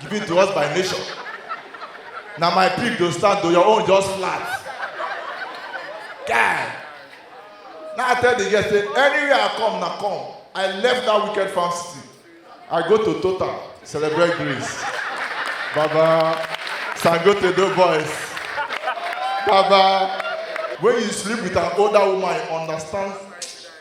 given to us by nature. Na my pig go stand to your own just flat. Guy. Now I tell the girl say anywhere I come na come. I left that wicked farm city. I go to Total celebrate Greece. Baba Sangote do boys. Baba when you sleep with an older woman you understand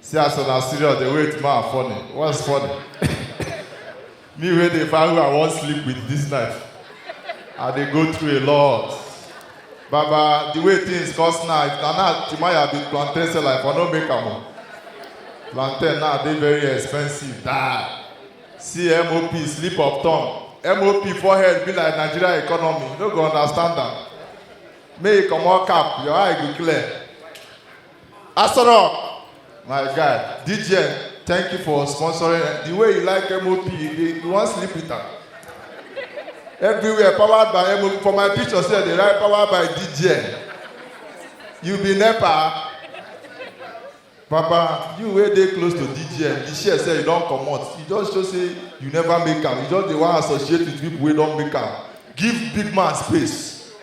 See as una serious dey wait ma funny. What's funny? Me wey dey find who I wan sleep with this night. I dey go through a lot. Baba, the way things cost now, if na now Timaya be plantain seller, I for no make am o. Plantain now dey very expensive die. See MOP slip of tongue. MOP forehead be like Nigeria economy, you no go understand am. Make you comot cap, your eye go clear. Asoro, my guy, DJ, thank you for sponsoring. The way you like MOP, you, you want sleep with her. Everywhere, powered by MOP. For my picture, say they write powered by DJ. You be NEPA. Papa, you wey dey close to DGM, the share say you don comot. You just show say you never make am. You just dey wan associate with people wey don make am. Give big man space.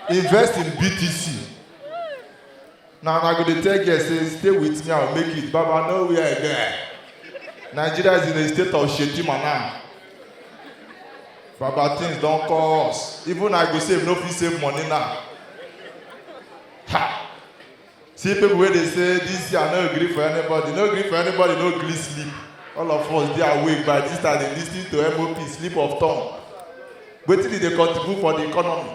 Invest in BTC. na una go dey tell girl say stay with me i go make it baba no where i get nigeria is in a state of shedima now baba things don cost even i go save no fit save money now ha see people wey dey say this year i no gree for anybody no gree for anybody no gree sleep all of us dey awake by this time dey lis ten to mop sleep of tongue wetin e dey contribute for the economy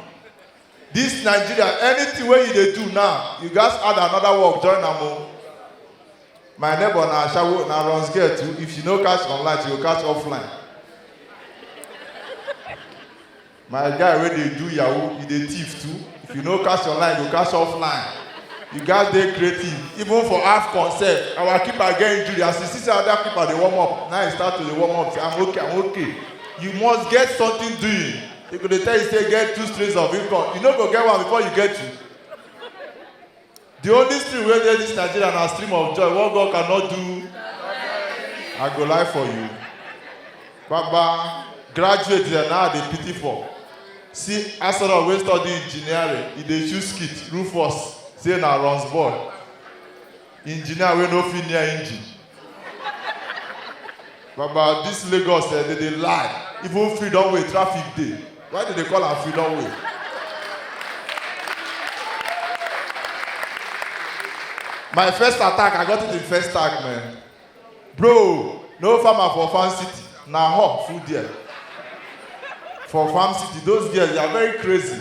This Nigeria, anything wey you dey do now, you gats add another work join am o. My neighbor na ashawo, na runs girl too, if she no catch online, she go catch offline. My guy wey dey do yahoo, he dey thief too, if you no catch online, you go catch offline. You gats dey creative, even for AFCON sef, our keeper get injury, as he see say other keeper dey warm up, na he start to dey warm up say I'm okay, I'm okay. You must get something doing. They go dey tell you say get two streams of income. You no go get one before you get two. The only stream wey dey this Nigeria na stream of joy. What God cannot do, I go lie for you. Baba, graduate dem now I dey pity for. See Asoro wey study engineering, e dey choose skit, Rufus, say na runs boy. Engineer wey no fit near engine. Baba, this Lagos eh, they dey lie. Even freedom way, traffic dey. Why they dey call am freedom way? My first attack, I got it in first tag, man. Bro, no farmer for farm city. Na hawk full there. For farm city, those girls, they are very crazy.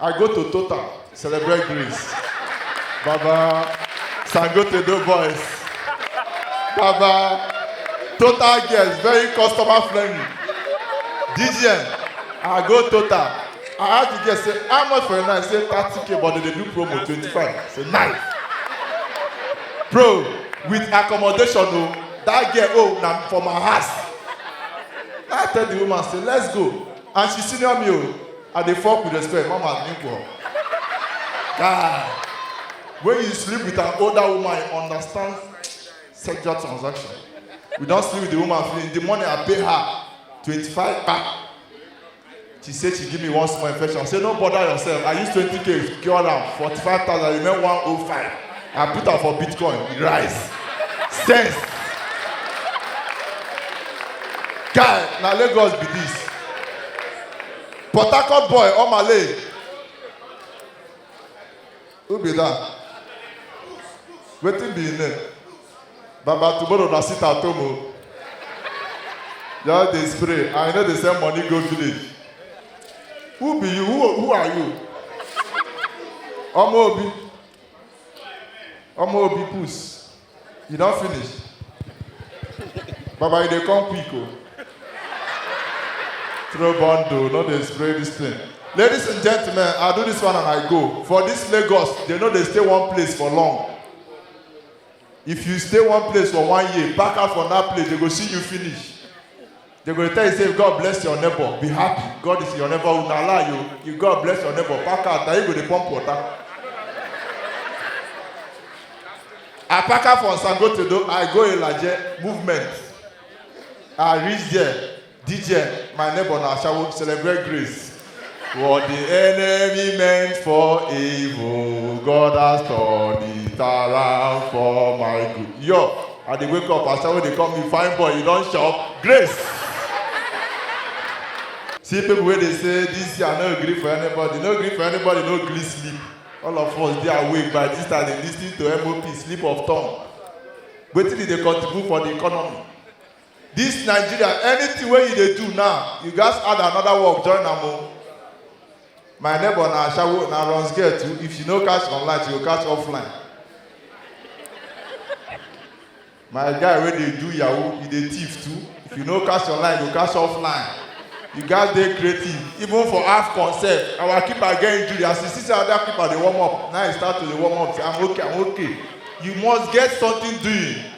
I go to Total, celebrate Greece. Baba, Sangote do boys. Baba, Total girls, very customer friendly. DGN, I go Total. I ask the girl, say, how much for a night? Say, 30k, but they dey do promo, 25. Say, nice. Bro, with accommodation, oh, that girl, oh, na for my house. I tell the woman, say, let's go. And she senior me, oh. I dey fuck with respect, mama nigga. Guy, when you sleep with an older woman, you understand sexual transaction. We don sleep with the woman finish. The money I pay her, 25 kpa. She say she give me one small infection. I say no bother yourself. I use 20k cure am, 45,000 remain 105. I put am for Bitcoin, e rise. Sense. Guy, na Lagos be this. Port Harcourt boy, Omale. Who be that? Wetin be him name? Baba tomorrow na sit at home o. Just dey spray and you no dey send money go village. Who be you? Who, who are you? Ọmọ Obi. Ọmọ Obi puss. You don finish? Baba, you dey come quick o. Throw bundle, no dey spray this thing. Ladies and gentlemen, I do this one and I go. For this Lagos, they no dey stay one place for long. If you stay one place for one year, pack out from that place, they go see you finish. They go tell you say God bless your neighbor, be happy. God is your neighbor. Una lie you. You God bless your neighbor. Pack out. Now you go dey pump water. I pack out from Sangotedo. I go Ilaje movement. I reach there. DJ, my neighbor na Ashawo celebrate grace. What the enemy meant for evil, God has turned it around for my good. Yo, I dey wake up, I start when they call me fine boy, you don shop. Grace. See people wey dey say this year no gree for anybody, no gree for anybody, no gree sleep. All of us dey awake by this time dey lis ten to MOP, sleep of tongue. Wetin e dey contribute for the economy? This Nigeria, anything wey you dey do now, you gats add another work join am o. My neighbor na ashawo, na runs girl too, if she no catch online, she go catch offline. My guy wey dey do yahoo, he dey thief too, if you no catch online, you go catch offline. You gats dey creative, even for AFCON sef, our keeper get injury, as he see say other keeper dey warm up, na he start to dey warm up, say I'm okay, I'm okay. You must get something doing.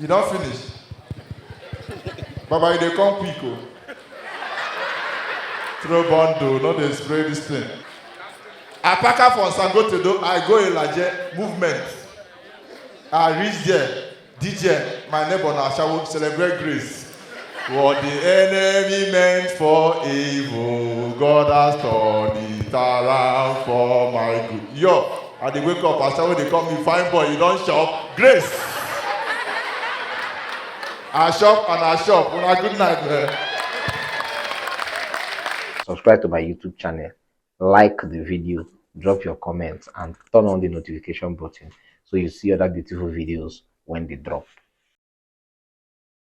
You don finish? Baba, you dey come quick o. Throw bundle, no dey spray this thing. I pack am for Sangotedo, I go Ilaje, movement. I reach there, DJ, my neighbor na Ashawo, celebrate grace. What the enemy meant for evil, God has turned it around for my good. Yo, I dey wake up, I start when they call me fine boy, you don shop. Grace. I shop and I shop. Una good night, man. subscribe to my YouTube channel, like the video, drop your comments, and turn on the notification button so you see other beautiful videos when they drop.